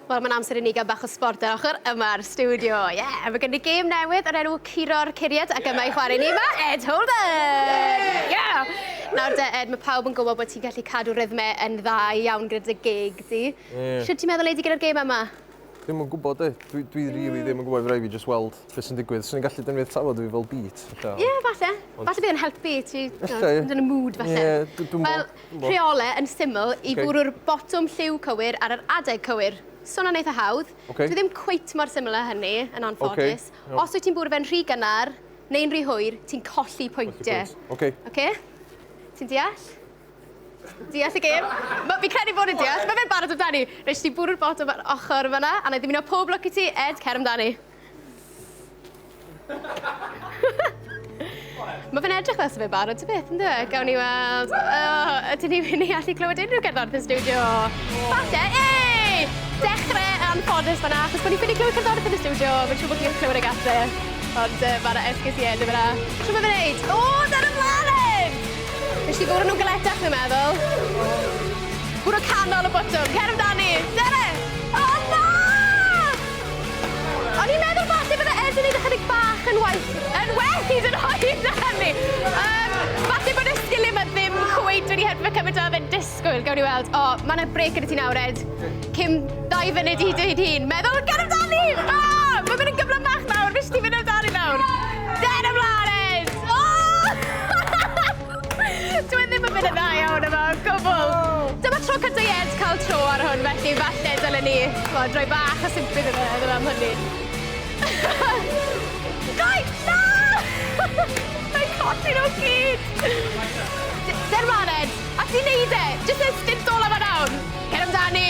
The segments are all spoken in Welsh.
Wel, mae'n amser i ni gael bach o sbort ar ochr yma'r studio. Ie, yeah, mae gen i gêm newydd o'r enw Curo'r Curiad ac yma i chwarae ni mae Ed Holden! Ie! Yeah! Nawr de, Ed, mae pawb yn gwybod bod ti'n gallu cadw rhythmau yn dda iawn gyda dy gig di. Ie. Sut ti'n meddwl ei di gyda'r gêm yma? Ddim yn gwybod e. Dwi, dwi mm. really ddim yn gwybod rhaid fi just weld beth sy'n digwydd. Swn i'n gallu dynnu'r tafod fi fel beat. Ie, yeah, falle. Ond... Falle bydd yn helpu ti. Falle. Yn y mood, falle. Ie, yeah, dwi'n... Wel, Rheole yn syml i fwrw'r botwm lliw cywir ar yr adeg cywir. Swnio'n eitha hawdd. Dwi ddim cweit mor syml â hynny, yn anffodus. Os wyt ti'n bwrw fe'n rhy gynnar neu'n rhy hwyr, ti'n colli pwyntiau. Oce? Ti'n deall? Deall y gêm? Fi'n credu bod yn deall. Mae fe'n barod amdani. Reit, ti bwrw'r botwm ar ochr fan'na, a na i ddymuno pob lwc i ti. Ed, cer amdani. Mae fe'n edrych fel sef e'n barod ti beth, ynddo e? Gawn ni weld... Oh, ydyn ni wedi allu clywed unrhyw gerddoriaeth yn studio? Falle, ei! Dechrau yn ffodus fanna, achos bod ni'n ffili clywed cerddoriaeth yn y studio, mae'n siŵr bod chi'n clywed y gatre. Ond uh, mae'r esgus i enw fanna. Clywed mae'n neud? O, dyna mlaen! Nes i fwrw nhw'n galetach, dwi'n meddwl. Bwrw canol y botwm, cer amdani! Dere! O'n i'n meddwl falle bydde Ed yn neud ychydig bach yn waeth, yn well hyd yn oed na hynny. Um, falle bod y sgiliau yma ddim cweit wedi helpu fe cymaint â oedd e'n disgwyl. Gawn ni weld. O, oh, mae yna brec gyda ti nawr, Ed. Cym dau fyny di hyd ei hun. Meddwl, ger amdani! O, oh, mae'n mynd yn gyflym bach nawr. Fes ti fynd amdani nawr. Ger ymlaen, Ed! O! Oh! Dwi e ddim yn mynd yn dda iawn yma, gwbl. Oh. Dyma tro cyda i Ed cael tro ar hwn, felly falle dylen ni fod droi bach o sympathy iddo fe iddo am hynny. Gai! Na! Mae'n codi nhw gyd! Ser man, Ed! A ti'n neud e! Just e stint ola fan awn! Cer amdani!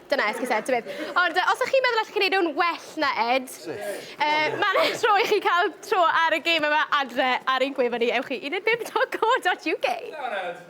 Dyna esgus Ed, tybed. Ond uh, os ych chi'n meddwl allwch chi wneud nhw'n well na Ed, uh, mae'n eich tro i chi cael tro ar y gêm yma adre ar ein gwefan ni, ewch i 15.co.uk.